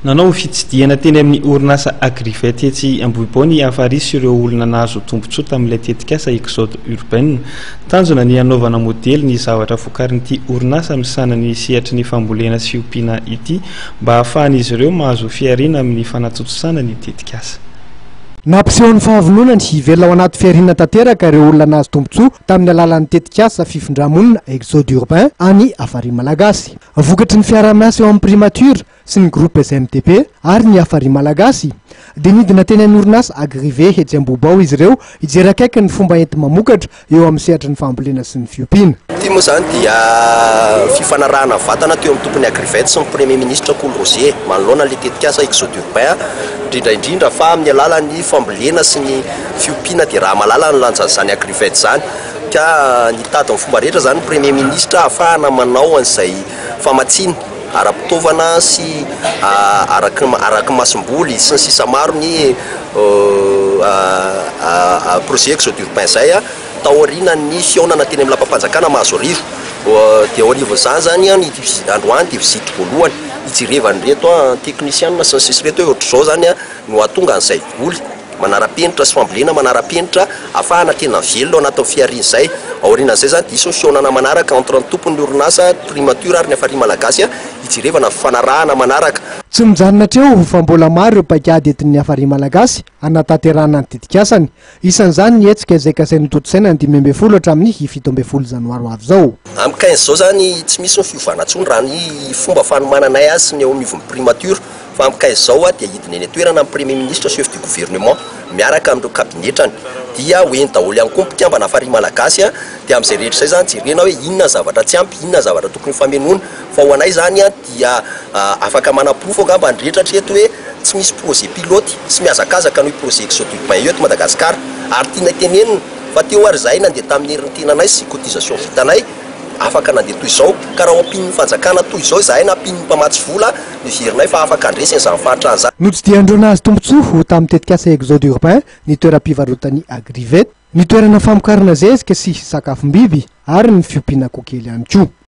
Nanao fitsidihana teny amin'ny orinasa Agrivet etsy Ambohibao ny Afaris sy ireo olona nahazo tombontsoa tamin'ilay tetikasa Exode Urbain. Tanjona ny hanaovana modely ny zavatra vokarin'ity orinasa misahana ny sehatry ny fambolena sy ompiana ity mba hahafahan'izy ireo mahazo fihariana amin'ny fanatontosana ny tetikasa. Nampiseho ny fahavononany hivelona ao anaty fihariana tanteraka ireo olona nahazo tombontsoa tamin'ny alalan'ny tetikasa fifindrà-monina Exode Urbain any Afaris Malagasy. Vokatry ny fiaraha-miasa eo amin'ny Primature sy ny Groupes MDP ary ny Hafari Malagasy dia nidina teny amin'ny orinasa Agrive etsy Ambohibao izy ireo hijery akaiky ny fomba enti-mamokatra eo amin'ny sehatry ny fambolena sy ny fiompiana. Ity moa izany dia fifanarahana vatana teo amin'ny tompon'ny Agrivet sy ny Premier Ministra Kolo Roger manoloana ilay tetikasa Exode Urbain indrindra indrindra fa amin'ny alalan'ny fambolena sy ny fiompiana dia raha mahalala ny lanjan'izany Agrivet izany Ka nitady amin'ny fomba rehetra izany ny Premier Ministra hahafahana manao an'izay famatsiana ara-pitaovana sy araky ny araky ny masomboly sy ny sisa maro ny projet Exode Urbain izay tao aorianan'ny fihaonana teny amin'ny lapam-panjakana Mahazoarivo. Dia eo anivon'izany izany an, ity androany dia vizity voalohany hijerevana ireto an, ny teknisiana sy ny sisa ireto hoe ohatr'izao izany an. no hahatonga an'izay voly manara-penitra sy fambolena manara-penitra hahafahana tena velona ao anatin'ny fihariana izay. Aorianan'izay izany dia hisy ny fihaonana manaraka entre ny tompon'ny orinasa, Primature ary ny Hafariana Malagasy hijerevana ny fifanarahana manaraka. Tsy mijanona hatreo fa mbola maro ireo paikady entin'ny Hafariana Malagasy hanatanterahana ny tetikasany. Isan'izany ny hetsika izay kasainy hotontosaina ny dimy ambin'ny folo hatramin'ny fito ambin'ny folo janoary ho avy izao. Amin'ny quinze izao izany tsy misy ny fiovana intsony raha ny fomba fanomananay azy sy ny eo anivon'ny primature fa amin'ny quinze izao dia hidina eny an-toerana ny Premier Ministre, Chef du Gouvernement, miaraka amin'ireo cabinetrany dia ho eny daholo ihany koa ny mpikambana Farihy Malagasy dia amin'izay rehetra izay izany jerena hoe inona ny zavatra tsy ampy, inona ny zavatra tokony hofamenoina fa ho anay izany dia afaka manaporofo angamba ny rehetra hatreto hoe tsy misy projet pilote sy mihazakazaka noho io projet Exodurbin io eto Madagasikara ary tianay tenenina fa teo ary izahay nandeha tamin'ny herin'ny tenanay sy cotisation vitanay afaka nandeha toy izao ka raha ampian'ny fanjakana toy izao izahay na ampian'ny mpamatsy vola heverinay fa afaka handresy an'izany fahantrana izany. Notsidihan'ireo nahazo tombontsoa ho tamin'ny tetikasa Exodurbin ny toeram-pivarotan'ny Agrivet, ny toerana famokarana zezika sy sakafom-biby ary ny fiompiana koa kely ihany koa.